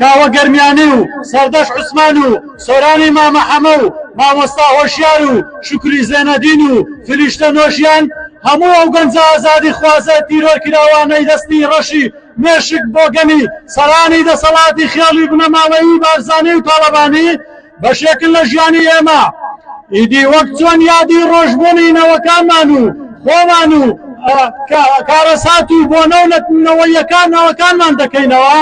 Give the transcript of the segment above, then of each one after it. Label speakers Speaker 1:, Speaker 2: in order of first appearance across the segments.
Speaker 1: کاوە گەرمیانی و سەردەشت عوسمان و سۆرانی مامە حەمە و مامۆستا هۆشیار و شوکری زێنەدین و فریشتە نۆژیان هەموو ئەو گەنجە ئازادی خوازە تیرۆر کراوانەی دەستی ڕەشی مێشک بۆگەنی سەرانی دەسەڵاتی خێڵی بنەماڵەیی بارزانی و تاڵەبانی بەشێکن لە ژیانی ئێمە ئیدی وەک چۆن یادی ڕۆژبوونی نەوەکانمان و خۆمان و کارەسات و بۆ نەونەتنەوەیەکان نەوەکانمان دەکەینەوە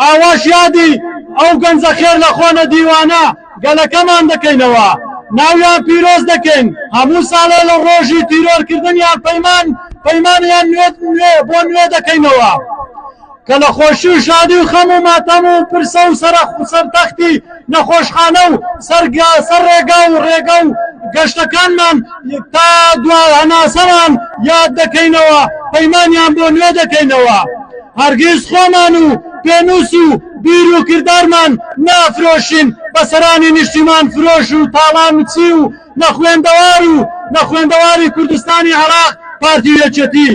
Speaker 1: ئاواش یادی ئەو گەنجە خێر لە خۆنە دیوانە گەلەکەمان دەکەینەوە ناویان پیرۆز دەکەین هەموو ساڵێ لە ڕۆژی تیرۆرکردنیان پەیمان پەیمانیان نوێ بۆ نوێ دەکەینەوە. کە لە خۆشی و شادی و خەم و ماتەم و پرسە و سەرەخ و سەر تەختی نەخۆشخانە و سەر گا سەر ڕێگا و ڕێگە و گەشتەکانمان تا دوا هەناسەمان یاد دەکەینەوە پەیمانیان بۆ نوێ دەکەینەوە هەرگیز خۆمان و پێنووس و بیر و کردارمان نافرۆشین بە سەرانی نیشتیمان فرۆش و تاڵانچی و نەخوێندەوار و نەخوێندەواری کوردستانی عێراق پارتی و یەکێتی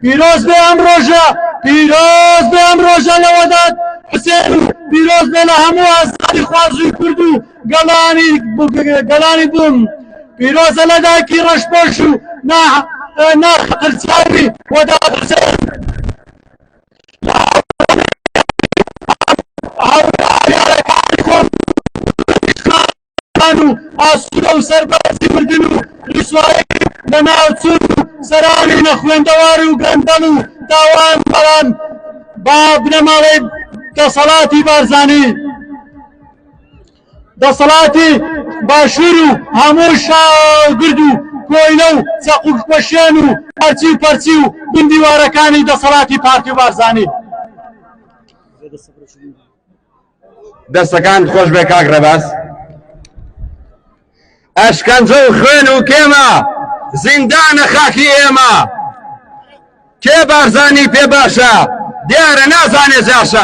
Speaker 1: پیرۆز بێ ئەم ڕۆژە پیرۆز بێ ئەم ڕۆژە لەوەدات حسێن و پیرۆز بێ لە هەموو ئازادی خوازوی کورد و گەلانی گەلانی بووم پیرۆزە لە داکی ڕەشپۆش و نا ناخ قرچاوی وەدات حسێن دان و ئاسوودە و سەربازی مردن و ڕیسوایی و لەناوچوون و سەرانی نەخوێندەوار و گەندەڵ و تاوان بەڵام با بنەماڵەی دەسەڵاتی بارزانی دەسەڵاتی باشوور و هەموو شاگرد و کۆیلە و چەقوکپەشێن و هەرچی و پەرچی و بن دیوارەکانی دەسەڵاتی پارتی و بارزانی
Speaker 2: دەستەکانت خۆش بێ کاک ڕێباز ئەشکەنجە و خوێن و کێمە زیندانە خاکی ئێمە کێ بارزانی پێ باشە دیارە نازانێ جاشە